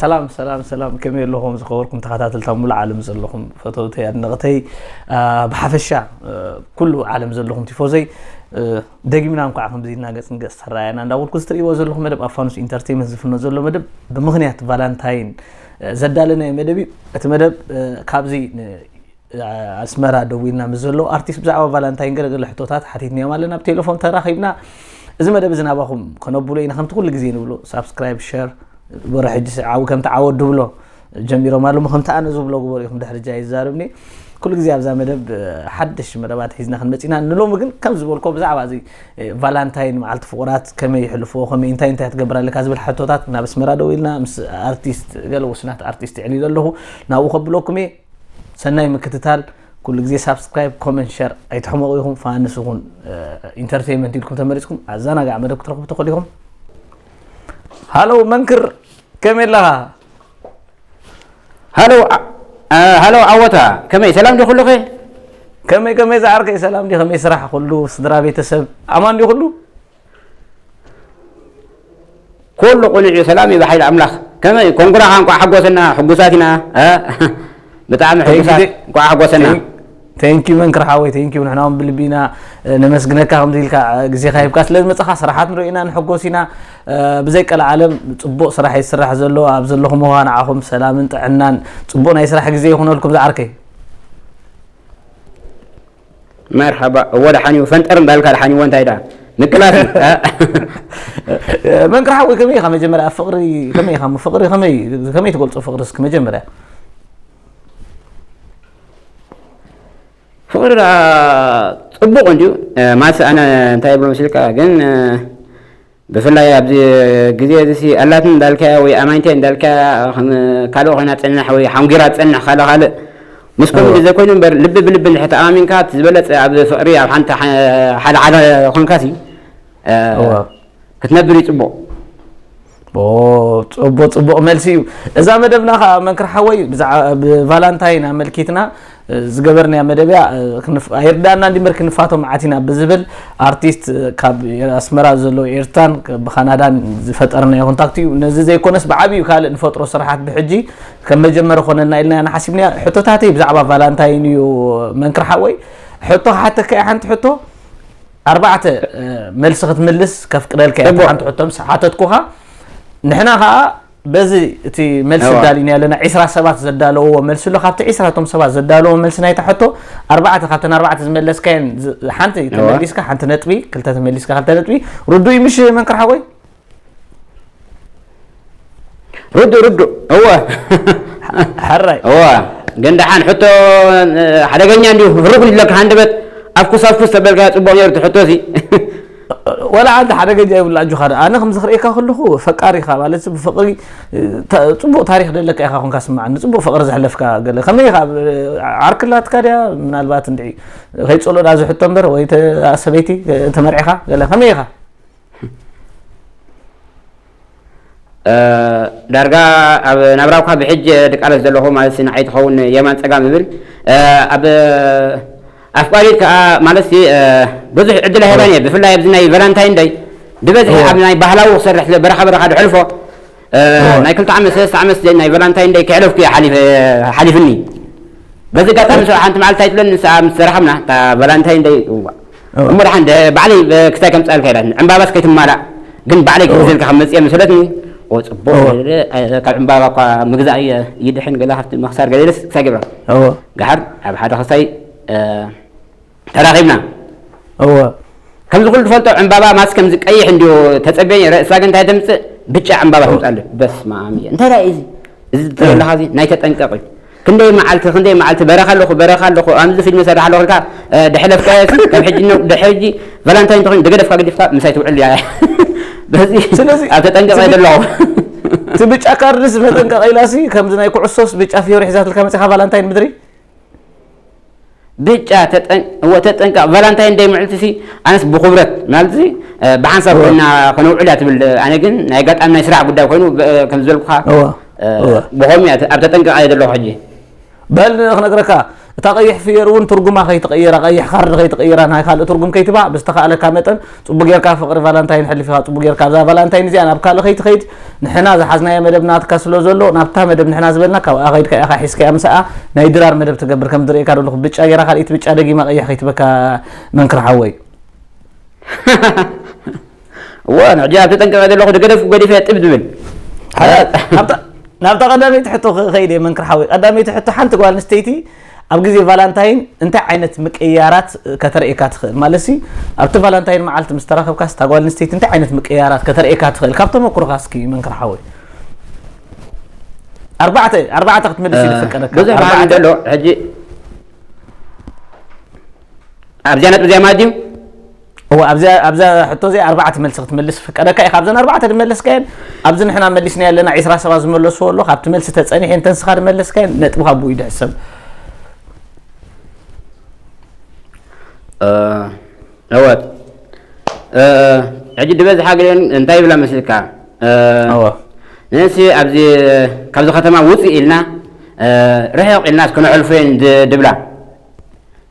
ሰላም ሰላም ሰላም ከመይ ኣለኹም ዝኸበርኩም ተኸታተልቲ ኣብ ሙሉእ ዓለም ዘለኹም ፈተውተይ ኣድነቕተይ ብሓፈሻ ኩሉ ዓለም ዘለኹም ቲፎዘይ ደጊምና እንኳዕ ከምዚ ኢልና ገጽ ንገጽ ተረኣየና እንዳበልኩ እዚ ትርእይዎ ዘለኹም መደብ ኣብ ፋኑስ ኢንተርቴንመንት ዝፍኖ ዘሎ መደብ ብምኽንያት ቫላንታይን ዘዳለናዮ መደብ እዩ እቲ መደብ ካብዚ ኣስመራ ደዊልና ምስ ዘለዉ ኣርቲስት ብዛዕባ ቫላንታይን ገለ ገለ ሕቶታት ሓቲትናዮም ኣለና ብ ቴለፎን ተራኺብና እዚ መደብ እዚ ናባኹም ከነብሎ ኢና ከምቲ ኩሉ ግዜ ንብሎ ሳብስክራይብ ሸር ግበሮ ሕጂ ዓው ከምቲ ዓወት ድብሎ ጀሚሮም ኣለሞ ከምቲ ኣነ ዝብሎ ግበሩ ኢኹም ድሕሪ ጃ ይዛርብኒ ኩሉ ግዜ ኣብዛ መደብ ሓድሽ መደባት ሒዝና ክንመፂና ንሎሚ ግን ከም ዝበልኮ ብዛዕባ እዚ ቫላንታይን መዓልቲ ፍቑራት ከመይ ይሕልፍዎ ከመይ እንታይ እንታይ ትገብር ኣለካ ዝብል ሕቶታት ናብ ኣስመራ ደው ኢልና ምስ ኣርቲስት ገለ ውስናት ኣርቲስት ይዕሊለ ኣለኹ ናብኡ ከብለኩም እየ ሰናይ ምክትታል ኩሉ ግዜ ሳብስክራይብ ኮመንት ሸር ኣይትሕመቑ ኢኹም ፋንስ ይኹን ኢንተርቴይመንት ኢልኩም ተመሪፅኩም ኣዘናጋዕ መደብ ክትረኽቡ ትኽእሉ ኢኹም ሃሎ መንክር ከመይ ኣለኻ ሃሎ ሃሎ ዓወታ ከመይ ሰላም ዶ ኩሉኸ ከመይ ከመይ ዝዓርከይ ሰላም ዲ ከመይ ስራሕ ኩሉ ስድራ ቤተሰብ ኣማን ዲ ኩሉ ኩሉ ቁኑዕ እዩ ሰላም እዩ ብሓይሊ ኣምላኽ ከመይ እዩ ኮንጉራኻ እንኳዕ ሓጎሰና ሕጉሳት ኢና ብጣዕሚ ሕጉሳት እንኳዕ ሓጎሰና ቴንኪዩ መንክር ሓወይ ቴንኪዩ ንሕና እውን ብልቢ ኢና ነመስግነካ ከምዚ ኢልካ ግዜካ ሂብካ ስለ ዝመፅኻ ስራሓት ንሪኦ ኢና ንሕጎስ ኢና ብዘይ ቀል ዓለም ፅቡቅ ስራሕ እዩ ዝስራሕ ዘሎ ኣብ ዘለኹም ዋ ንዓኹም ሰላምን ጥዕናን ፅቡቅ ናይ ስራሕ ግዜ ይኹነልኩም ዝዓርከይ መርሐባ እወ ደሓንዩ ፈንጠር እንዳልካ ደሓንዩ እወ እንታይ ደኣ ምቅላስ መንክር ሓወይ ከመይ ኢኻ መጀመርያ ፍቕሪ ከመይ ኢኻ ፍቕሪ ከመይ ከመይ ትገልጾ ፍቕሪ እስኪ መጀመርያ ፍቕሪ ደኣ ጽቡቕ እንድዩ ማስ ኣነ እንታይ ይብሎ መስልካ ግን ብፍላይ ኣብዚ ግዜ እዚሲ ኣላትኒ እንዳልካያ ወይ ኣማኒተይ እንዳልካያ ከም ካልእ ኮይና ትጸንሕ ወይ ሓንጒራ ትጸንሕ ካልእ ካልእ ምስ ኮሚዲ ዘይኮይኑ እምበር ልቢ ብልቢ እንድሕር ተኣማሚንካ እቲ ዝበለጸ ኣብ ፍቕሪ ኣብ ሓንቲ ሓደ ሓደ ኮንካሲ ክትነብር እዩ ጽቡቕ ጽቡቕ ጽቡቕ መልሲ እዩ እዛ መደብና ከዓ መንክር ሓወይ ብዛዕባ ቫላንታይን ኣመልኪትና ዝገበርናያ መደብያ ኣይርዳእና እንዲበር ክንፋቶ መዓት ኢና ብዝብል ኣርቲስት ካብ ኣስመራ ዘሎ ኤርትራን ብካናዳን ዝፈጠርናዮ ኮንታክት እዩ ነዚ ዘይኮነስ ብዓብዩ ካልእ ንፈጥሮ ስራሓት ብሕጂ ከም መጀመሪ ኮነልና ኢልና ኢና ሓሲብና ሕቶታተይ ብዛዕባ ቫላንታይን እዩ መንክር ሓወይ ሕቶ ክሓተካ እየ ሓንቲ ሕቶ ኣርባዕተ መልሲ ክትምልስ ከፍቅደልካ እየ ሓንቲ ሕቶ ምስ ሓተትኩኻ ንሕና ከዓ በዚ እቲ መልሲ እዋ። ኣዳሊና ኣለና ዒስራ ሰባት ዘዳለውዎ መልሲ ኣሎ ካብቲ ዒስራ እቶም ሰባት ዘዳለውዎ መልሲ ናይታ ሕቶ ኣርባዕተ ካብተን ኣርባዕተ ዝመለስካየን ዝ- ሓንቲ እዋ። ተመሊስካ ሓንቲ ነጥቢ ክልተ ተመሊስካ ክልተ ነጥቢ ርዱእ ምሽ መንክር ሓወይ ርዱእ ርዱእ እወ ሕራይ እወ ግን ደሓን ሕቶ እ፣ ሓደገኛ እንዲሁ ህሩግ ይብለካ ሃንደበት ኣፍኩስ ኣፍኩስ ተበልካ ፅቡቕ ነይሩ እቲ ሕቶ እዚ ዋላ ዓንዲ ሓደገኛ ይብሉ ኣጆኻ ደኣ ኣነ ከምዚ ክርእየካ ከለኹ ፈቃሪ ኢኻ ማለት ብፍቕሪ ጽቡቕ ታሪክ ደለካ ኢኻ ኮንካ ስምዓኒ ጽቡቕ ፍቕሪ ዘሕለፍካ ገለ ከመይ ኢኻ ዓርክላትካ ድያ ምናልባት እንድዒ ከይጸሎ ዳ ዝሕቶ እምበር ወይ ሰበይቲ ተመርዒኻ ገለ ከመይ ኢኻ ዳርጋ ኣብ ናብራኳ ብሕጀ ድቃለስ ዘለኹ ማለትሲ ንዓይ ትኸውን የማን ጸጋም እብል ኣብ ኣፍቃሪት ከኣ ማለትሲ ብዙሕ ዕድል ኣይህባን እየ ብፍላይ ኣብዚ ናይ ቫላንታይን ደይ ብበዝሒ ኣብ ናይ ባህላዊ ክሰርሕ ስለ በረኻ በረኻ ድሕልፎ ናይ ክልተ ዓመት ሰለስተ ዓመት ናይ ቫላንታይን ደይ ክሕለፍኩ እየ ሓሊፍኒ በዚ ጋጣሚ ሰው ሓንቲ መዓልቲ ኣይትብለኒ ንስኣ ምስ ተራኸብና እታ ቫላንታይን ደይ እሞ ደሓን ባዕለይ ክሳይ ከምጽኣልካ ኢላትኒ ዕምባባስ ከይትማላእ ግን ባዕለይ ክሕዘልካ ከም መጽየ መሰለትኒ እወ ጽቡቅ እወ። ገለ ኣይ- ካብ ዕምባባ እኳ ምግዛእ እየ ይድሕን ገለ ካብቲ ምክሳር ገለ ኢለስ ክሳይ ገብራ እወ ገሓር ኣብ ሓደ ክሳይ እ፣ ተራኺብና እወ ከምዚ ኩሉ ትፈልጦ ዕምባባ ማስ ከምዚ ቀይሕ እንዲዮ ተጸብየ ነይረ እሳ ግን እንታይ ተምጽእ ብጫ ዕምባባ ተምጽእ ኣሎ በስመ ኣም እየ እንታይ ደኣ እዩ እዚ እዚ ትርእዮ ኣለኻ እዚ ናይ ተጠንቀቕ እዩ ክንደይ መዓልቲ ክንደይ መዓልቲ በረኻ ኣለኹ በረኻ ኣለኹ ኣዚ ፊልሚ ሰራሕ ኣለኹ ኢልካ ድሕለፍ ካዮሲ ካብ ሕጂ ን ድሕሪ ሕጂ ቫላንታይን ተኾይኑ ደገደፍካ ገዲፍካ ምሳይ ትውዕል እያ በዚ ኣብ ተጠንቀቐ ደለኹ እቲ ብጫ ካርድስ መጠንቀቂላሲ ከምዚ ናይ ኩዕሶስ ብጫ ፍዮሪ ሒዛትልካ መፂኻ ቫላንታይን ምድሪ ብጫ እወ ተጠንቀቅ ቫላንታይን ደይ ምዕልቲ ሲ ኣነስ ብኩብረት ማለት ሲ ብሓንሳብ ኮይና ከነውዕል እያ ትብል ኣነ ግን ናይ ኣጋጣሚ ናይ ስራሕ ጉዳይ ኮይኑ ከም ዝበልኩካ ብከምኡ እያ ኣብ ተጠንቀቅ እየ ዘለኩ ሕጂ በል ክነግረካ እታ ቀይሕ ፍየር እውን ትርጉማ ከይትቀይራ ቀይሕ ካርድ ከይትቀይራ ናይ ካልእ ትርጉም ከይትባ ብዝተካእለካ መጠን ጽቡቅ ጌርካ ፍቅሪ ቫላንታይን ሕልፍ ኢካ ጽቡቅ ጌርካ ኣብዛ ቫላንታይን እዚኣ ናብ ካልእ ከይትከይድ ንሕና ዝሓዝናዮ መደብ ናትካ ስለ ዘሎ ናብታ መደብ ንሕና ዝበልና ካብኣ ከይድካ ኢካ ሒዝካያ ምሳኣ ናይ ድራር መደብ ትገብር ከም ዝርእየካ ዘለኩ ብጫ ጌራ ካልኢት ብጫ ደጊማ ቀይሕ ከይትበካ መንክር ሓወይ እዎ ንሕጂ ኣብ ተጠንቀቀ ዘለኩ ደገደፍ ገዲፈ ጥብ ዝብል ናብታ ቀዳመይቲ ሕቶ ከይድ እየ መንክር ሓወይ ቀዳመይቲ ሕቶ ሓንቲ ጓል ኣንስተይቲ ኣብ ግዜ ቫላንታይን እንታይ ዓይነት ምቅይያራት ከተርእየካ ትኽእል? ማለትሲ ኣብቲ ቫላንታይን መዓልቲ ምስ ተራኸብካስ እታ ጓል ኣንስተይቲ እንታይ ዓይነት ምቅይያራት ከተርእየካ ትኽእል? ካብ ተመኩሮኻ እስኪ መንክር ሓወይ ኣርባዕተ ኣርባዕተ ክትመልስ እዩ ዝፍቀደካ። ብዙሕ ባህሪ ኣርባዕተ ዘሎ ሕጂ ኣብዚኣ ነጥቢ እዚኣ ማለት ድዩ እወ ኣብዛ ሕቶ እዚ ኣርባዕተ መልሲ ክትምልስ ፍቀደካ እዩ ካብዘን ኣርባዕተ ድመለስካየን ኣብዚ ንሕና መሊስና ኣለና ዒስራ ሰባት ዝመለስዎ ኣሎ ካብቲ መልሲ ተፀኒሐ እንተንስኻ ድመለስካየን ነጥብካ ብኡ ይድሕሰብ እወ ሕጂ ድበዝሓ ግለን እንታይ ይብላ መስልካ ንእሲ ኣብዚ ካብዚ ከተማ ውፅእ ኢልና ርሕቕ ኢልና እስከነዕልፎ እየን ድብላ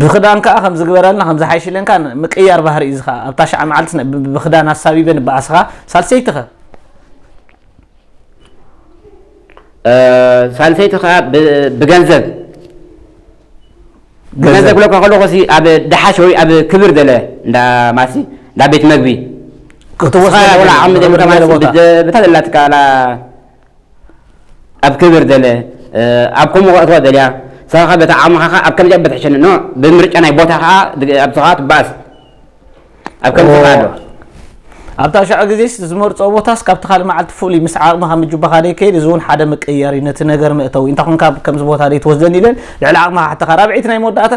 ብክዳን ከዓ ከም ዝግበረልና ከም ዝሓይሽለንካ ምቅያር ባህሪ እዩ ዝከዓ ኣብታ ሸዓ መዓልቲ ብክዳን ኣሳቢበ ንበኣስኻ ሳልሰይቲ ከ ሳልሰይቲ ከዓ ብገንዘብ ገንዘብ ክለካ ከለኩ ሲ ኣብ ደሓሽ ወይ ኣብ ክብር ዘለ እንዳ ማሲ እንዳ ቤት መግቢ ክትወስድ ወላ ዓቅሚ ዘይብልካ ማለት ብታ ዘላትካ ኣብ ክብር ዘለ ኣብ ከምኡ ከእትዋ ዘልያ ሰኻኻ በታ ዓቕምኻ ከኣ ኣብ ከምዚኣ በትሕሸኒ ኖ ብምርጫ ናይ ቦታ ከኣ ኣብዚ ከኣ ትበኣስ ኣብ ከምዚ ከኣ ኣሎ ኣብታ ሸዑ ግዜ ዝመርጾ ቦታስ ካብቲ ካልእ መዓልቲ ፍሉይ ምስ ዓቕምኻ ምጅባኻ ደይከይድ እዚ እውን ሓደ መቀየር እዩ ነቲ ነገር መእተዊ እንታ ኮንካ ከምዚ ቦታ ደይትወስደኒ ኢለን ልዕሊ ዓቕምኻ ሓተኻ ራብዒት ናይ መወዳእታ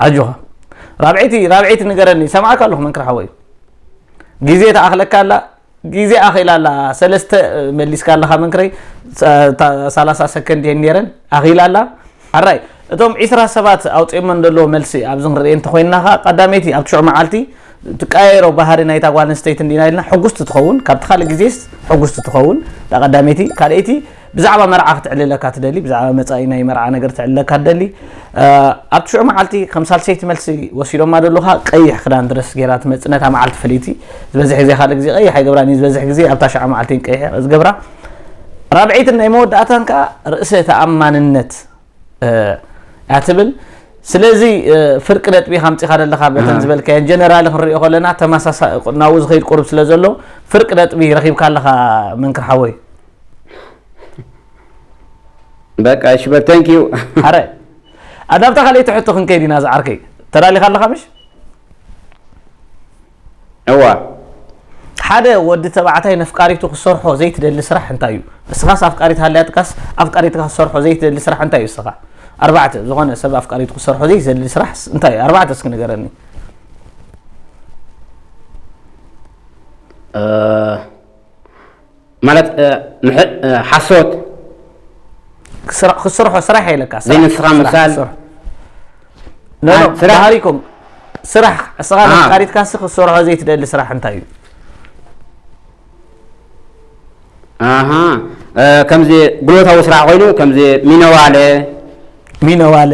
ኣጆኻ ራብዒቲ ራብዒቲ ንገረኒ ሰማዕካ ኣለኹ መንክር ሓወይ ግዜ ተኣኽለካ ኣላ ግዜ ኣኺላ ኣላ ሰለስተ መሊስካ ኣለኻ መንክረይ ሳላሳ ሰከንድ እየን ነይረን ኣኺላ ኣላ ኣራይ እቶም ዒስራ ሰባት ኣውጺኦሞ ደለዉ መልሲ ኣብዚ ክንርኢ እንተኾይንና ከኣ ቀዳመይቲ ኣብቲ ሽዑ መዓልቲ ትቀያየሮ ባህሪ ናይታ ጓል ኣንስተይቲ እንዲና ኢልና ሕጉስቲ ትኸውን ካብቲ ካልእ ግዜስ ሕጉስቲ ትኸውን እታ ቀዳመይቲ ካልኣይቲ ብዛዕባ መርዓ ክትዕልለካ ትደሊ ብዛዕባ መጻኢ ናይ መርዓ ነገር ትዕልለካ ትደሊ ኣብቲ ሽዑ መዓልቲ ከም ሳልሰይቲ መልሲ ወሲዶማ ደለካ ቀይሕ ክዳን ድረስ ገይራ ትመጽእ ነታ መዓልቲ ፍልይቲ ዝበዝሕ ግዜ ካልእ ግዜ ቀይሕ ኣይገብራን እዩ ዝበዝሕ ግዜ ኣብታ ሽዓ መዓልቲ ቀይሕ ዝገብራ ራብዐይትን ናይ መወዳእታን ከዓ ርእሰ ተኣማንነት እያ ትብል ስለዚ ፍርቂ ነጥቢ ካምፂኻ ዘለካ በተን ዝበልካየን ጀነራል ክንሪኦ ከለና ተመሳሳሊ ናብኡ ዝኸይድ ቁርብ ስለ ዘሎ ፍርቂ ነጥቢ ረኺብካ ኣለካ መንክር ሓወይ በቃ እሺ በል ታንክ ዩ ኣረ ኣዳብታ ካልኣይቲ ሕቶ ክንከይድ ኢና ዝዓርከይ ተዳሊኻ ኣለኻ ምሽ እዋ ሓደ ወዲ ተባዕታይ ነፍቃሪቱ ክሰርሖ ዘይትደሊ ስራሕ እንታይ እዩ? እስኻስ ኣፍቃሪት ሃልያትካስ ኣፍቃሪትካ ክሰርሖ ዘይትደሊ ስራሕ እንታይ እዩ እስኻ? ኣርባዕተ ዝኾነ ሰብ ኣፍቃሪቱ ክሰርሖ ዘይትደሊ ስራሕስ እንታይ እዩ? ኣርባዕተ እስኪ ንገረኒ። ማለት ሓሶት ክስርሖ ስራሕ የለካ ዘይንስኻ ምሳል ባህሪኩም ስራሕ እስኻ ነቃሪትካ ሲ ክሰርሖ ዘይትደሊ ስራሕ እንታይ እዩ ከምዚ ጉልበታዊ ስራሕ ኮይኑ ከምዚ ሚነዋለ ሚነዋለ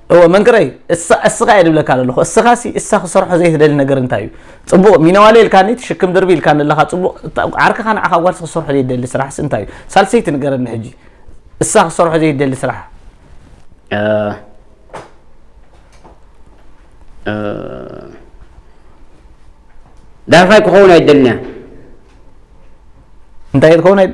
እወ መንክረይ እሳ እስኻ እየ ድብለካ ዘለኹ እስኻ ሲ እሳ ክሰርሖ ዘይትደሊ ነገር እንታይ እዩ ፅቡቕ ሚነዋለ ኢልካኒ ትሽክም ድርቢ ኢልካ ዘለኻ ፅቡቕ ዓርክኻ ንዓኻ ጓልሲ ክሰርሖ ዘይደሊ ስራሕ ሲ እንታይ እዩ ሳልሰይቲ ንገረኒ ሕጂ እሳ ክሰርሖ ዘይደሊ ስራሕ ዳርፋይ ክኸውን ኣይደልንያ እንታይ ክኸውን ኣይደ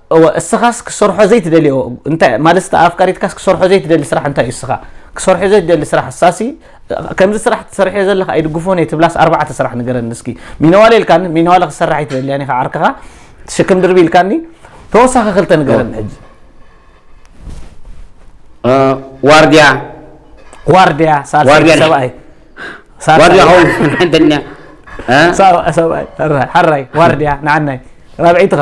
እወ እስኻስ ክሰርሖ ዘይትደልዮ እንታይ ማለትስታ ኣፍቃሪትካስ ክሰርሖ ዘይትደሊ ስራሕ እንታይ እዩ እስኻ ክሰርሖ ዘይትደሊ ስራሕ ሳሲ ከምዚ ስራሕ ትሰርሕዮ ዘለካ ኣይድግፎን እየ ትብላስ ኣርባዕተ ስራሕ ንገረኒ እስኪ ሚነዋለ ኢልካኒ ሚነዋለ ክሰርሕ ኣይትደልያን ኢኻ ዓርክኻ ሽክም ድርቢ ኢልካኒ ተወሳኺ ክልተ ንገረኒ ሕጂ ዋርድያ ዋርድያ ሳልሳይ ሰብኣይ ዋርድያ ኸው ሓንተኛ ሰብኣይ ሓራይ ዋርድያ ንዓናይ ራብዒትኸ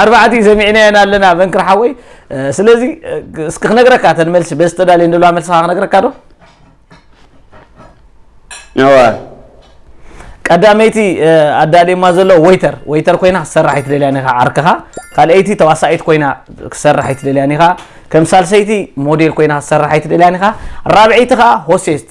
ኣርባዕቲ ሰሚዕናየን ኣለና መንክር ሓወይ ስለዚ እስኪ ክነግረካ ተን መልሲ በዚ ተዳልየ ንለዋ መልስኻ ክነግረካ ዶ እዋ ቀዳመይቲ ኣዳልየማ ዘሎ ወይተር ወይተር ኮይና ክትሰርሕ ኣይትደልያ ኒኻ ዓርክኻ ካልኣይቲ ተዋሳኢት ኮይና ክትሰርሕ ኣይትደልያ ኒኻ ከም ሳልሰይቲ ሞዴል ኮይና ክትሰርሕ ኣይትደልያ ኒኻ ራብዐይቲ ከዓ ሆሴስት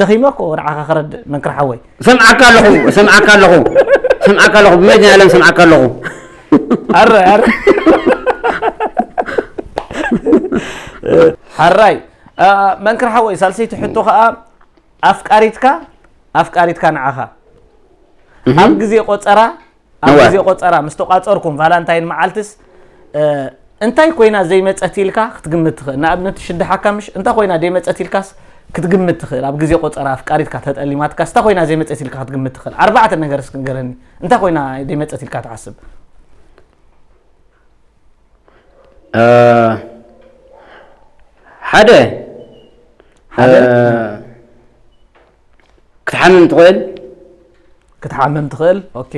ደኺመ እኮ ንዓኻ ክረድእ መንክር ሓወይ ሰምዓካ ኣለኹ ሰምዓካ ኣለኹ ሰምዓካ ኣለኹ ብመድን ዓለም ሰምዓካ ኣለኹ ኣረ ኣረ ሓራይ መንክር ሓወይ ሳልሰይቲ ሕቶ ከዓ ኣፍቃሪትካ ኣፍቃሪትካ ንዓኻ ኣብ ግዜ ቆፀራ ኣብ እዋይ። ግዜ ቆጸራ ምስ ተቋጸርኩም ቫላንታይን መዓልትስ እ፣ እንታይ ኮይና ዘይመጸት ኢልካ ክትግምት ትኽእል ንኣብነት ትሽድሓካ ምሽ እንታይ ኮይና ዘይመጸት ኢልካስ ክትግምት ትኽእል ኣብ ግዜ ቆጸራ ኣፍቃሪትካ ተጠሊማትካስ እንታይ ኮይና ዘይመጸት ኢልካ ክትግምት ትኽእል ኣርባዕተ ነገር እስኪ ንገረኒ እንታይ ኮይና ዘይመጸት ኢልካ ትሓስብ እ፣ ሓደ ሓደ? እ፣ ክትሓምም ትኽእል ክትሓምም ትኽእል ኦኬ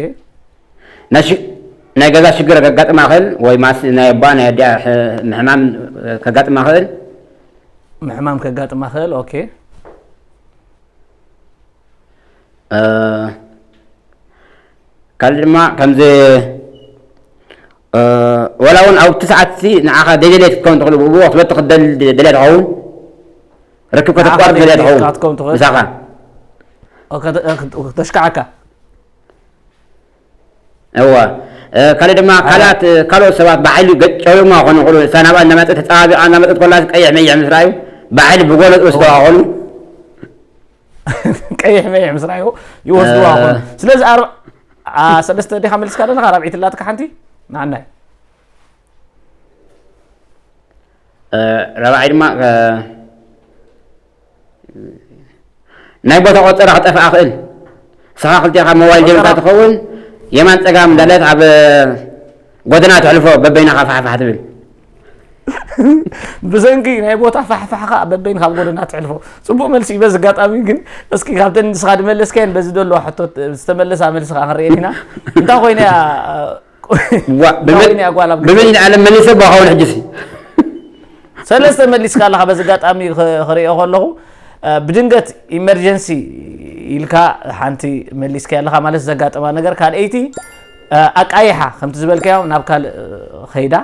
ናይ ገዛ ሽግር ከጋጥማ ክእል ወይ ማስ ናይ ኣባ ናይ ኣዲኣ ምሕማም ከጋጥማ ክእል ምሕማም ከጋጥማ ክእል ኦኬ ካልእ ድማ ከምዚ ዋላ ውን ኣብቲ ሰዓት እቲ ንዓኻ ዘይደለየ ክትከውን ትኽእል ብኡ ክትበቲ ክትደሊ ደልያ ትኸውን ርክብ ከተቋርጥ ደልያ ትኸውን ምሳኻ ተሽካዓካ እዋ ካልእ ድማ ካልኣት ካልኦት ሰባት ብሓይሊ ገጨውማ ክኾኑ ይኽእሉ እሳ ናብኣ እናመፀት ተፀባቢቓ እናመፀት ኮላ ቀይሕ መይሕ ምስ ረኣዩ ብሓይሊ ብጎነፅ ወስደዋ ክኾኑ ቀይሕ መይሕ ምስ ራእዩ ይወስድዋ ኾነ ስለዚ ሰለስተ ዲኻ መልስካ ዘለካ ራብዒት ላትካ ሓንቲ ንዓናይ ራብዓይ ድማ ናይ ቦታ ቆፀራ ክጠፍእ ኣኽእል ስኻ ክልቲኻ ሞባይል ጀምርካ ትኸውን የማን ፀጋም እንዳለት ኣብ ጎደና ትሕልፎ በበይናኻ ፋሕፋሕ ትብል ብሰንኪ ናይ ቦታ ፋሕፋሕ ከዓ በበይን ካብ ጎደና ትሕልፎ ፅቡቅ መልሲ እዩ በዚ ኣጋጣሚ ግን እስኪ ካብተን ንስኻ ድመለስካየን በዚ ደሎ ሕቶ ዝተመለሳ መልሲ ከዓ ክንሪኤን ኢና እንታይ ኮይነ እያ ብመን ዓለም መሊሰ ባኸውን ሕጅሲ ሰለስተ መሊስካ ኣለኻ በዚ ኣጋጣሚ ክሪኦ ከለኹ ብድንገት ኢመርጀንሲ ኢልካ ሓንቲ መሊስካ ኣለኻ ማለት ዘጋጠማ ነገር ካልኣይቲ ኣቃይሓ ከምቲ ዝበልካዮ ናብ ካልእ ከይዳ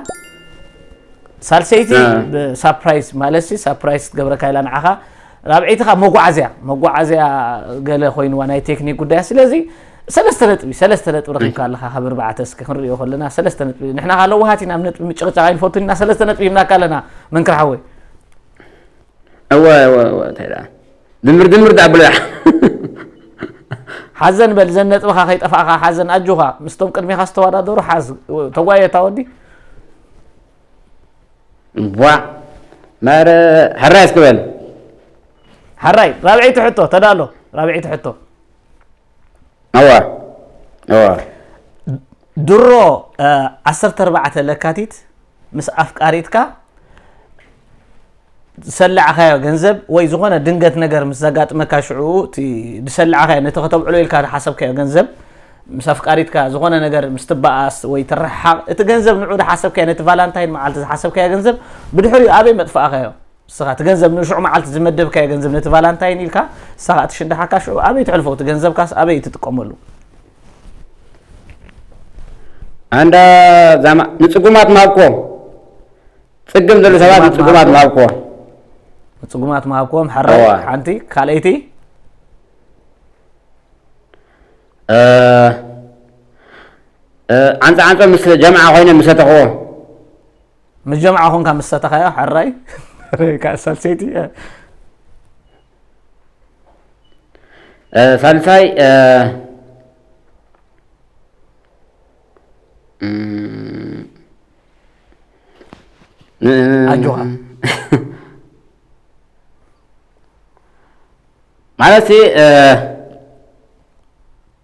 ሳልሰይቲ ሳፕራይዝ ማለትሲ ሳፕራይዝ ክትገብረካ ኢላ ንዓኻ ራብዒይቲ ካብ መጓዓዝያ መጓዓዝያ ገለ ኮይንዋ ናይ ቴክኒክ ጉዳያ ስለዚ ሰለስተ ነጥቢ ሰለስተ ነጥቢ ረኪብካ ኣለካ ካብ እርባዕተ እስኪ ክንሪኦ ከለና ሰለስተ ነጥቢ ንሕና ካለ ውሃት ኢና ኣብ ነጥቢ ምጭቕጫቕ ኣይንፈቱን ኢና ሰለስተ ነጥቢ ሂብናካ ኣለና መንክር ሓወይ እወ እወ እወ እንታይ ደኣ ድምር ድምር ደኣ ብሎ ሓዘን በል ዘን ነጥብኻ ከይጠፋእኻ ሓዘን ኣጆኻ ምስቶም ቅድሚኻ ዝተወዳደሩ ሓዝ ተጓየታ ወዲ ዋ ማረ ሕራይ እስክበል ሕራይ ራብዐይቲ ሕቶ ተዳሎ ራብዐይቲ ሕቶ እወ እወ ድሮ እ፣ 14 ለካቲት ምስ ኣፍቃሪትካ ዝሰላዕኻዮ ገንዘብ ወይ ዝኾነ ድንገት ነገር ምስ ዘጋጥመካ ሽዑ እቲ ዝሰላዕኻዮ ነቲ ከተብዕሎ ኢልካ ዝሓሰብካዮ ገንዘብ ምስ ኣፍቃሪትካ ዝኾነ ነገር ምስ ትበኣስ ወይ ትረሓቕ እቲ ገንዘብ ንዑ ዝሓሰብካዮ ነቲ ቫላንታይን መዓልቲ ዝሓሰብካዮ ገንዘብ ብድሕሪኡ ኣበይ መጥፋእኻዮ ንስኻ እቲ ገንዘብ ንሽዑ መዓልቲ ዝመደብካዮ ገንዘብ ነቲ ቫላንታይን ኢልካ ንስኻ ትሽድሓካ ሽዑ ኣበይ ትሕልፎ እቲ ገንዘብካስ ኣበይ ትጥቀመሉ ኣንዳ ዛማ ንጽጉማት ማብኮ ጽግም ዘሎ ሰባት ንጽጉማት ማብኮ ንጽጉማት ማብኮም ሕረ ሓንቲ ካልኣይቲ ዓንፃ ዓንፆ ምስ ጀምዓ ኮይነ ምሰተኽዎ ምስ ጀምዓ ኮንካ ምስ ሰተኻዮ ሕራይ ሳልሰይቲ ሳልሳይ ኣጆኻ ማለት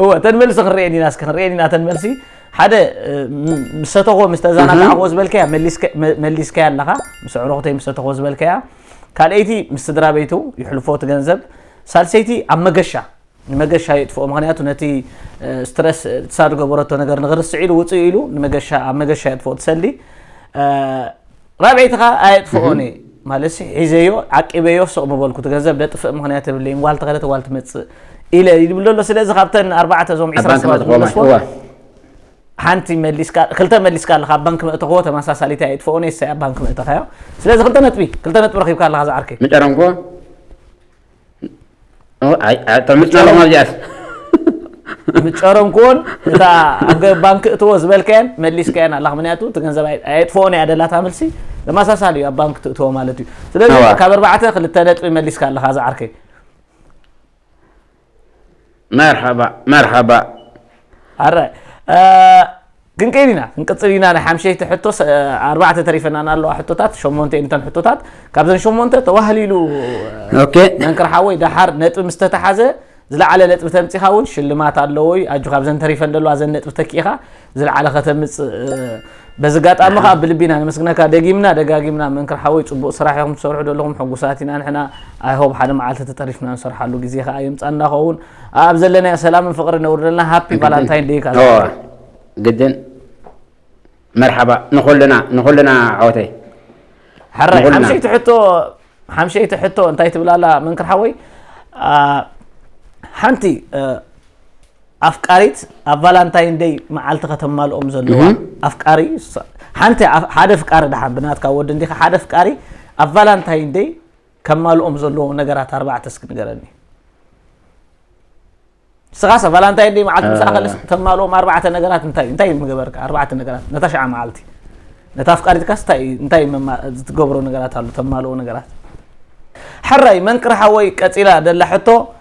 እወ እተን መልሲ ክንርኤን ኢና እስኪ ክንርኤን ኢና እተን መልሲ ሓደ ምስ ሰተኾ ምስ ተዘናጋዕኮ ዝበልከያ መሊስካያ ኣለኻ ምስ ኣዕሩኽተይ ምስ ሰተኾ ዝበልከያ ካልኣይቲ ምስ ስድራ ቤቱ ይሕልፎ እቲ ገንዘብ ሳልሰይቲ ኣብ መገሻ ንመገሻ የጥፍኦ ምክንያቱ ነቲ ስትረስ ትሳድ ገበረቶ ነገር ንክርስዕ ኢሉ ውፅእ ኢሉ ንመገሻ ኣብ መገሻ የጥፍኦ ትሰሊ ራብዐይቲ ከኣ ኣየጥፍኦን እየ ማለትሲ ሒዘዮ ዓቂበዮ ሱቕ ምበልኩ እቲ ገንዘብ ደጥፍእ ምክንያት የብለይን ጓል ተኸደት ጓል ትመፅእ ኢለ ይብል ዘሎ ስለዚ ካብተን ኣርባዕተ እዞም ኣብ ዕስራ ባንክ ሰባት መጥቆማይ ዝመለስዎ እወ ሓንቲ መሊስካ ክልተ መሊስካ ኣለካ ኣብ ባንክ መእተኽዎ ተመሳሳሊት እያ የጥፍኦን እየ ሳይ ኣብ ባንክ መእተኻዮ ስለዚ ክልተ ነጥቢ ክልተ ነጥቢ ረኺብካ ኣለካ ዝዓርከይ ምጨረንኮ ምጫሮም ኣብዚኣስ ምጨሮም ክውን እታ ኣብ ባንክ እትዎ ዝበልካየን መሊስካየን ኣላ ምክንያቱ እቲ ገንዘብ ኣየጥፍኦን እያ ደላታ መልሲ ተመሳሳሊ እዩ ኣብ ባንክ ትእትዎ ማለት እዩ ስለዚ ካብ ኣርባዕተ ክልተ ነጥቢ መሊስካ ኣለካ ዝዓርከይ መርሓባ መርሓባ ኣራይ ክንቅይድ ኢና ክንቅጽል ኢና ናይ ሓምሸይቲ ሕቶ ኣርባዕተ ተሪፈናና ኣለዋ ሕቶታት ሸሞንተ እየን እተን ሕቶታት ካብዘን ሸሞንተ ተዋህሊሉ መንክር ሓወይ ደሓር ነጥቢ ምስ ተተሓዘ ዝለዓለ ነጥቢ ተምፂኻ እውን ሽልማት ኣለዎ እዩ ኣጆ ካብዘን ተሪፈን ዘለዋ ዘን ነጥቢ ተኪኢኻ ዝለዓለ ከተምፅእ በዚ ኣጋጣሚ ከዓ ብልቢና ነመስግነካ ደጊምና ደጋጊምና መንክር ሓወይ ፅቡቅ ስራሕ ኢኹም ትሰርሑ ዘለኹም ሕጉሳት ኢና ንሕና ኣይሆብ ሓደ መዓልቲ ተጠሪፍና ንሰርሓሉ ግዜ ከዓ የምፃና ኸውን ኣብ ዘለናዮ ሰላምን ፍቕርን ነውርደልና ሃፒ ቫላንታይን ደይ ከኣ ግድን መርሓባ ንኹልና ንኹልና ዓወተይ ሕራይ ሓምሸይቲ ሕቶ ሓምሸይቲ ሕቶ እንታይ ትብል ኣላ መንክር ሓወይ ሓንቲ ኣፍቃሪት ኣብ ቫላንታይን ደይ መዓልቲ ከተማልኦም ዘለዋ ኣፍቃሪ ሓንቲ ሓደ ፍቃሪ ድሓን ብናትካ ወዲ እንዲኻ ሓደ ፍቃሪ ኣብ ቫላንታይን ደይ ከማልኦም ዘለዎም ነገራት ኣርባዕተ እስኪ ንገረኒ። ንስኻሰ ቫላንታይን ደይ መዓልቲ ምሳኻ ከለስ ተማልኦም ኣርባዕተ ነገራት እንታይ እንታይ ምገበርካ? ኣርባዕተ ነገራት ነታ ሽዓ መዓልቲ ነታ ኣፍቃሪትካስ እንታይ እንታይ መማ- ዝትገብሮ ነገራት ኣሎ ተማልኦ ነገራት ሕራይ መንቅርሓ ወይ ቀፂላ ደላ ሕቶ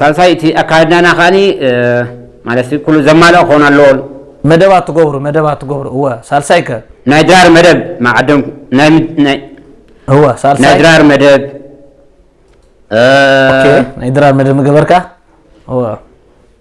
ሳልሳይ እቲ ኣካይድናና ከኣ ማለት ኩሉ ዘማልኣ ክኾን ኣለዎን። መደባት ትገብሩ መደባት ትገብሩ እወ ሳልሳይ ከ? ናይ ድራር መደብ መዓደምኩ ናይ እወ ሳልሳይ ናይ ድራር መደብ ናይ ድራር መደብ ምገበርካ እወ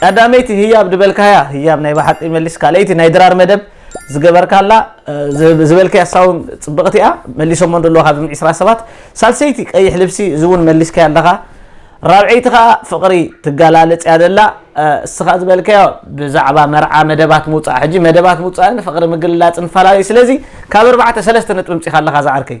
ቀዳመይቲ ህያብ ድበልካያ ህያብ ናይ በሓቂ ይመልስ ካልኣይቲ ናይ ድራር መደብ ዝገበርካላ ዝበልካያ ሳውን ጽብቕቲ እያ መሊሶሞ እንደለዎ ካብ ዝም ዕስራ ሰባት ሳልሰይቲ ቀይሕ ልብሲ እዚ እውን መሊስካያ ኣለኻ ራብዐይቲ ከዓ ፍቕሪ ትገላለጽ እያ ደላ እስኻ ዝበልካዮ ብዛዕባ መርዓ መደባት ምውፃእ ሕጂ መደባት ምውፃእን ፍቕሪ ምግልላፅን ፈላለዩ ስለዚ ካብ ኣርባዕተ ሰለስተ ነጥቢ ምፂኻ ኣለኻ ዝዓርከይ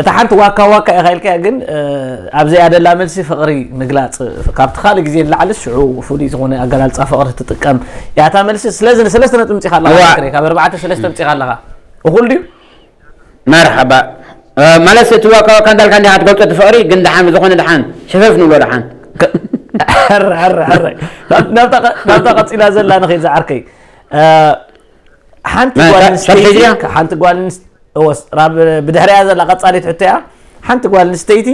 እታ ሓንቲ ዋካ ዋካ ኢኻ ኢልካያ ግን ኣብ ዘይኣደላ መልሲ ፍቕሪ ምግላጽ ካብቲ ካልእ ግዜ ንላዕልስ ሽዑ ፍሉይ ዝኾነ ኣገላልጻ ፍቕሪ ትጥቀም እያ እታ መልሲ ስለዚ ንሰለስተ ነጥቢ ምጺኻ ኣለኻ ፍቅሪ ካብ ኣርባዕተ ሰለስተ ምጺኻ ኣለኻ እኹል ድዩ መርሓባ ማለት እቲ ዋካ ዋካ እንዳልካ እንዲኻ ትገልጾ እቲ ፍቕሪ ግን ድሓን ብዝኾነ ድሓን ሕፈፍ ንብሎ ድሓን ናብታ ቀጺላ ዘላ ንኸይድ ዝዓርከይ ሓንቲ ጓል ኣንስተይቲ ሓንቲ ጓል ብድሕሪያ ዘላ ቀፃሊት ሕቶ እያ ሓንቲ ጓል ኣንስተይቲ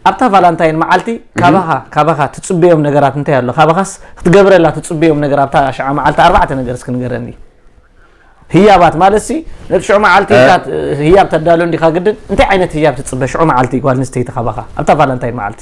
ኣብታ ቫላንታይን መዓልቲ ካባኻ ካባኻ ትፅበዮም ነገራት እንታይ ኣሎ ካባኻስ ክትገብረላ ትፅበዮም ነገር ኣብታ ሽዓ መዓልቲ ኣርባዕተ ነገር እስኪ ንገረኒ ህያባት ማለት ሲ ነቲ ሽዑ መዓልቲ ህያብ ተዳሎ እንዲኻ ግድን እንታይ ዓይነት ህያብ ትፅበ ሽዑ መዓልቲ ጓል ኣንስተይቲ ካባኻ ኣብታ ቫላንታይን መዓልቲ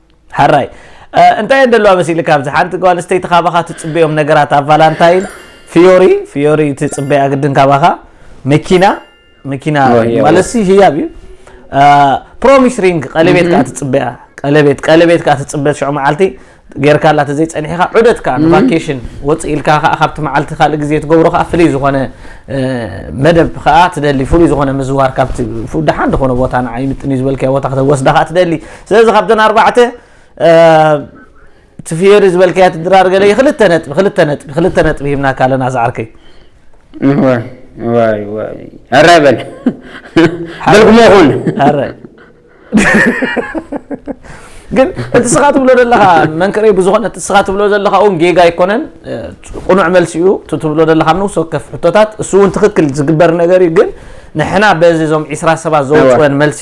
ሐራይ እንታይ እየን ደለዋ መሲልካ ኣብዚ ሓንቲ ጓል ኣንስተይቲ ካባኻ ትፅበዮም ነገራት ኣብ ቫላንታይን ፍዮሪ ፍዮሪ ትፅበያ ግድን ካባኻ መኪና መኪና ኦ፣ የዋ። ማለት ህያብ እዩ ፕሮሚስ ሪንግ ቀለቤት ከዓ ትፅበያ ቀለቤት ቀለቤት ከዓ ትፅበ ሽዑ መዓልቲ ጌርካላ ተዘይፀኒሕካ ዑደት ከዓ ንቫኬሽን ወፅእ ኢልካ ከዓ ካብቲ መዓልቲ ካልእ ግዜ ትገብሮ ከዓ ፍሉይ ዝኾነ እ፣ መደብ ከዓ ትደሊ ፍሉይ ዝኾነ ምዝዋር ካብቲ ፍ- ደሓን ዝኾነ ቦታ ንዓ ይምጥን እዩ ዝበልካዮ ቦታ ከተወስዳ ከዓ ትደሊ ስለዚ ካብተን ኣርባዕተ እቲ ፍዮሪ ዝበልካያ ትድራር ገለ ክልተ ነጥቢ ክልተ ነጥቢ ክልተ ነጥቢ ሂብናካ ኣለና ዝዓርከይ ዋይ ዋይ ኣረ በል በልኩሞ ይኹን ኣረ ግን እቲ ስኻ ትብሎ ዘለኻ መንክረይ ብዝኾነ እቲ ስኻ ትብሎ ዘለኻ እውን ጌጋ ኣይኮነን ቁኑዕ መልሲ እዩ እቲ ትብሎ ዘለኻ ንውስ ወከፍ ሕቶታት እሱ እውን ትክክል ዝግበር ነገር እዩ ግን ንሕና በዚ እዞም ዒስራ ሰባት ዘውፅወን መልሲ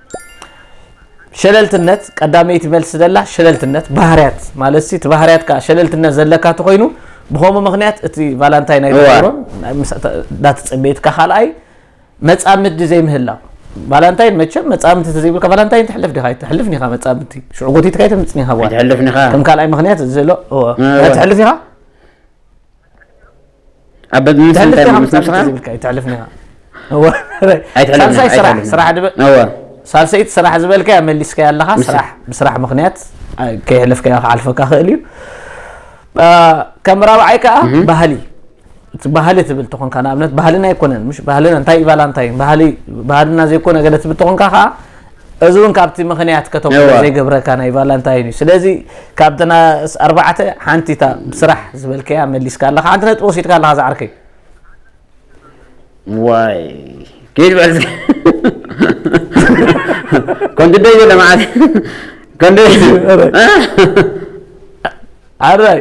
ሸለልትነት ቀዳመይቲ መልሲ ዘላ ሸለልትነት ባህርያት ማለት እቲ ባህርያት ከዓ ሸለልትነት ዘለካ ተኮይኑ ብከምኡ ምክንያት እቲ ቫላንታይ ናይ ተገብሮ እንዳተፀበየትካ ካልኣይ መፃምዲ ዘይምህላው ቫላንታይን መቸም መፃምቲ ተዘይብልካ ቫላንታይን ትሕልፍ ዲካ ትሕልፍ ኒካ መፃምቲ ሽዑ ጎቲትካ ይተምፅኒ ኢካ ጓል ከም ካልኣይ ምክንያት ዘሎ ትሕልፍ ኢካ ኣብ ምንታይ እንታይ ምስ ነብስኻ ዝብልካ ይትሕልፍና ኣይትሕልፍሳልሳይ ስራሕ ስራሕ ድበ ሳልሰይቲ ስራሕ ዝበልካያ መሊስካያ ኣለኻ ስራሕ ብስራሕ ምክንያት ከይሕለፍካያ ክሓልፈካ ክእል እዩ ከም ራብዓይ ከዓ ባህሊ ባህሊ ትብል ተኾንካ ንኣብነት ባህልና ኣይኮነን ምሽ ባህልና እንታይ ይባላ እንታይ ባህሊ ባህልና ዘይኮነ ገለ ትብል ተኾንካ ከዓ እዚ ውን ካብቲ ምኽንያት ከተቑርፅ እወ። ዘይገብረካ ናይ ቫላንታይን እዩ። ስለዚ ካብተን ኣስ- ኣርባዕተ ሓንቲ እታ ብስራሕ ዝበልከያ መሊስካ ኣለኻ። ሓንቲ ነጥቢ ወሲድካ ኣለኻ ዝዓርከይ። ዋይ ኪድ በል እስኪ። ከምቲ ደይ ዘሎ መዓት ከምቲ ዓራይ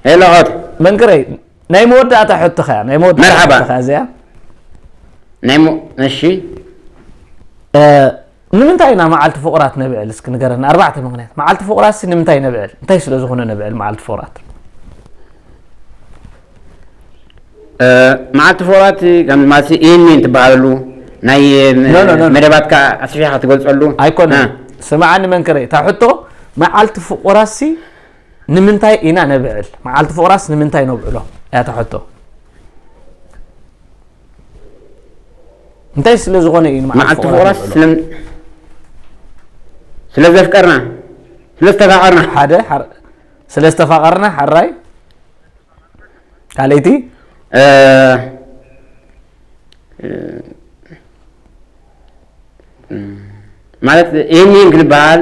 ሄሎ ኦት መንክረይ ናይ መወዳእታ ሕቶኻ እያ ናይ መወዳእታ መርሓባ። ሕቶኻ እዚኣ ናይ ሞ እሺ እ፣ ንምንታይ ኢና መዓልቲ ፍቑራት ነብዕል እስኪ ንገረና ኣርባዕተ ምክንያት መዓልቲ ፍቑራት ሲ ንምንታይ ነብዕል እንታይ ስለ ዝኾነ ነብዕል መዓልቲ ፍቑራት እ፣ መዓልቲ ፍቑራት ከም ማለት ይህንን ትበሃለሉ ናይ ም- ኖ፣ ኖ፣ ኖ፣ ኖ። መደባትካ ኣስፊሕካ ትገልጸሉ እ፣ ኣይኮነን ስምዓኒ መንክረይ እታ ሕቶ መዓልቲ ፍቑራት ሲ ንምንታይ ኢና ነብዕል መዓልቲ ፍቕራስ ንምንታይ ነብዕሎ እያ ተሐቶ እንታይ ስለ ዝኾነ እዩ መዓልቲ ፍቕራስ ስለ ዘፍቀርና ስለ ዝተፋቐርና ሓደ ስለ ዝተፋቐርና ሓራይ ካልኣይቲ ማለት ይህን ይህን ክንበሃል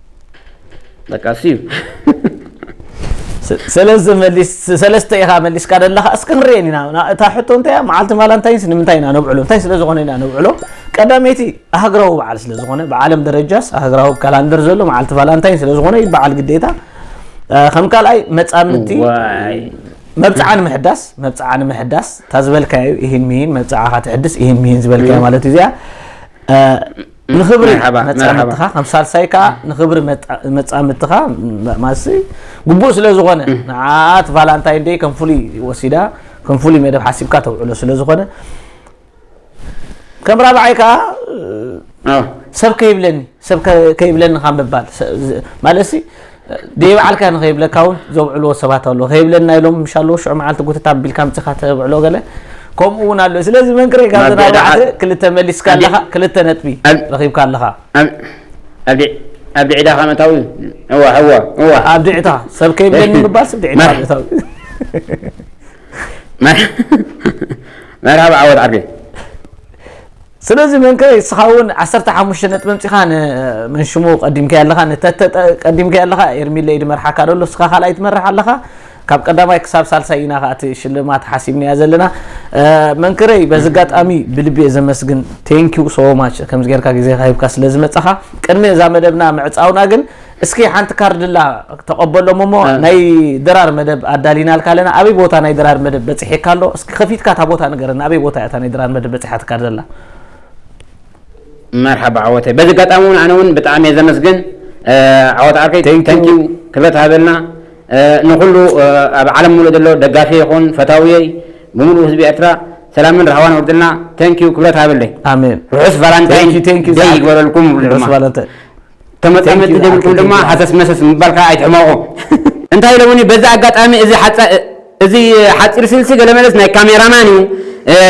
በቃ እሱ እዩ ሰለዚ መሊስ ሰለስተ ኢኻ መሊስካ ዘለኻ እስኪ ክንርኤን ኢና እታ ሕቶ እንታይ እያ መዓልቲ ቫላንታይንስ ንምንታይ ኢና ነብዕሎ እንታይ ስለ ዝኾነ ኢና ነብዕሎ ቀዳመይቲ ሃገራዊ በዓል ስለ ዝኾነ ብዓለም ደረጃስ ሃገራዊ ካላንደር ዘሎ መዓልቲ ቫላንታይን ስለ ዝኾነ ይበዓል ግዴታ ከም ካልኣይ መፃምድቲ ዋይ መብፅዓ ንምሕዳስ መብፅዓ ንምሕዳስ እታ ዝበልካዮ ኢሂን ምሂን መብፅዓኻ ትሕድስ ኢሂን ምሂን ዝበልካዮ ማለት እዩ እዚኣ ንክብሪ መርሓባ፣ መጻምድትኻ ከም ሳልሳይ ከዓ ንክብሪ መጣ- መጻምድትኻ ም- ማሲ ግቡእ ስለ ዝኾነ ንዓት ቫላንታይን ደይ ከም ፍሉይ ወሲዳ ከም ፍሉይ መደብ ሓሲብካ ተውዕሎ ስለ ዝኾነ ከም ራብዓይ ከዓ ኣዎ። ሰብ ከይብለኒ ሰብ ከ- ከይብለኒ ካብ ምባል ሰ- ዝ- ማለት ሲ ደይበዓልካ ንኸይብለካ ውን ዘብዕልዎ ሰባት ኣለዉ ከይብለና ኢሎም ምሽ ኣለዉ ሽዑ መዓልቲ ጉትት ኣቢልካ ኣምጺኻ ተብዕሎ ገለ ከምኡ ውን ኣሎ ስለዚ መንክረይ ካብ ዘን ኣርባዕተ ክልተ መሊስካ ኣለኻ ክልተ ነጥቢ ረኺብካ ኣለኻ ኣብ ድዒታ ከም እታዊ እዋ እዋ እዋ ኣብ ድዒታ ሰብ ከይብለኒ ምባል ስብ ድዒታ ኣብ እታዊ መርሓባ ዓወት ዓርከይ ስለዚ መንከ እስኻ እውን ዓሰርተ ሓሙሽተ ነጥቢ ኣምጺኻ ን መን ሽሙ ቀዲምካዮ ኣለኻ ን ተተ ቀዲምካዮ ኣለኻ ኤርሚለ ኢዩ ድመርሓካ ደሎ እስኻ ካልኣይ ትመርሕ ኣለኻ ካብ ቀዳማይ ክሳብ ሳልሳይ ኢና ከኣ እቲ ሽልማት ሓሲብናያ ዘለና መንክረይ በዚ ኣጋጣሚ ብልቢ እየ ዘመስግን ቴንኪው ሶ ማች ከምዚ ጌርካ ግዜካ ሂብካ ስለ ዝመጻኻ ቅድሚ እዛ መደብና ምዕጻውና ግን እስኪ ሓንቲ ካርድላ ተቐበሎም እሞ ናይ ድራር መደብ ኣዳሊናልካ ኣለና ኣበይ ቦታ ናይ ድራር መደብ በፂሒካ ኣሎ እስኪ ከፊትካ እታ ቦታ ንገረና ኣበይ ቦታ እታ ናይ ድራር መደብ በፂሓ ትካርደላ መርሓባ ዓወተይ በዚ ኣጋጣሚ እውን ኣነ እውን ብጣዕሚ እየ ዘመስግን ዓወት ዓርከይ ተንኪው ክብረት ሃበልና ንኩሉ ኣብ ዓለም ሙሉእ ዘሎ ደጋፊ ይኹን ፈታውየይ ብምሉእ ህዝቢ ኤርትራ ሰላምን ራህዋን ወርድልና ተንኪው ክብረት ሃበለይ ኣሜን ርሑስ ቫላንታይን ደይ ይግበረልኩም ድማ ተመጻመድቲ ዘይብልኩም ድማ ሃሰስ መሰስ ምባል ከኣ ኣይትሕመቑ። እንታይ ኢሎሙኒ በዚ ኣጋጣሚ እዚ እዚ ሓጺር ስልሲ ገለ መለስ ናይ ካሜራማን እዩ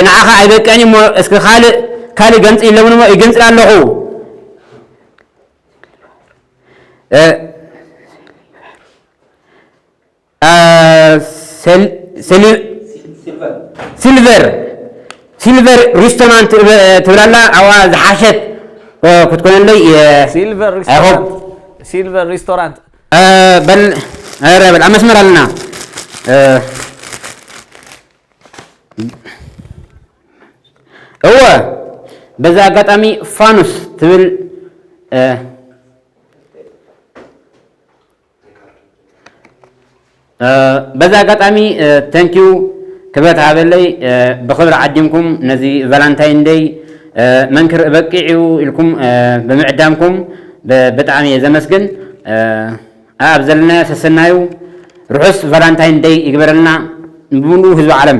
ንዓኻ ኣይበቅዕን እዩሞ እስኪ ካልእ ካልእ ገንጽል ኢሎሙኒሞ ይግንጽል ኣለኹ። ሲልቨር ሲልቨር ሪስቶራንት ትብላላ ኣብኣ ዝሓሸት ክትኮነለይ ሲልቨር ኣይሆፕ ሪስቶራንት ሲልቨር ሪስቶራንት በል ኧረ በል ኣብ መስመር ኣለና እወ በዛ ኣጋጣሚ ፋኑስ ትብል በዚ ኣጋጣሚ ተንኪዩ ክብረት ሃበለይ ብክብሪ ዓዲምኩም ነዚ ቫላንታይን ደይ መንክር እበቂዕ እዩ ኢልኩም ብምዕዳምኩም ብጣዕሚ እየ ዘመስግን ኣብ ዘለናዮ ሰሰናዩ ርሑስ ቫላንታይን ደይ ይግበረልና ንብሉ ህዝቢ ዓለም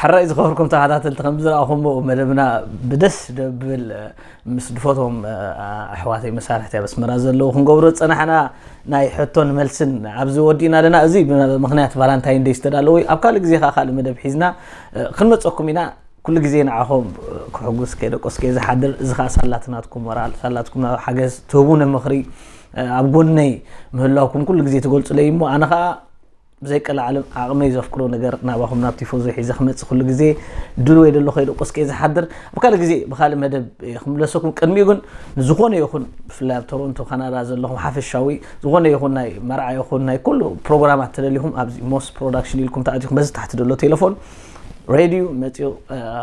ሕራይ ዝኸበርኩም ተኸታተልቲ ከም ዝረኣኹሞ መደብና ብደስ ደብል ምስ ድፈቶም ኣሕዋተይ መሳርሕቲ ኣብ ኣስመራ ዘለዉ ክንገብሮ ዝፀናሕና ናይ ሕቶን መልስን ኣብዚ ወዲእና ኣለና እዚ ምክንያት ቫላንታይን ደይ ዝተዳለወ ኣብ ካልእ ግዜ ከዓ ካልእ መደብ ሒዝና ክንመፀኩም ኢና ኩሉ ግዜ ንዓኹም ክሕጉስ ከይደቆስ ከይዝሓድር እዚ ከዓ ሳላትናትኩም ሞራል ሳላትኩም ሓገዝ ትህቡነ ምኽሪ ኣብ ጎነይ ምህላውኩም ኩሉ ግዜ ትገልፁለይ እሞ ኣነ ከዓ ብዘይቀላዓለም ዓቕመይ ዘፍቅሮ ነገር ናባኹም ናብ ቲፎዞ ሒዘ ክመጽእ ኩሉ ግዜ ድልዎይ ደሎ ከይደቆስኩ እየ ዝሓድር ኣብ ካልእ ግዜ ብካልእ መደብ እየ ክምለሰኩም ቅድሚኡ ግን ንዝኾነ ይኹን ብፍላይ ኣብ ቶሮንቶ ካናዳ ዘለኹም ሓፈሻዊ ዝኾነ ይኹን ናይ መርዓ ይኹን ናይ ኩሉ ፕሮግራማት ተደሊኹም ኣብዚ ሞስ ፕሮዳክሽን ኢልኩም ተኣቲኹም በዚ ታሕቲ ደሎ ቴሌፎን ሬድዩ መፅኡ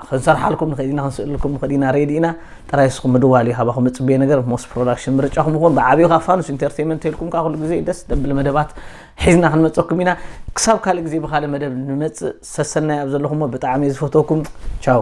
ክንሰርሓልኩም ንኽእል ኢና ክንስእልኩም ንኽእል ኢና ሬዲ ኢና ጥራይ እስኹም ምድዋል እዩ ካባኹም እፅበየ ነገር ሞስ ፕሮዳክሽን ምርጫኹም ይኹን ብዓብዩ ካብ ፋኑስ ኢንተርቴንመንት ኢልኩም ካ ኩሉ ግዜ ደስ ደብል መደባት ሒዝና ክንመፀኩም ኢና ክሳብ ካልእ ግዜ ብካልእ መደብ ንመፅእ ሰሰናይ ኣብ ዘለኹሞ ብጣዕሚ እየ ዝፈትወኩም ቻው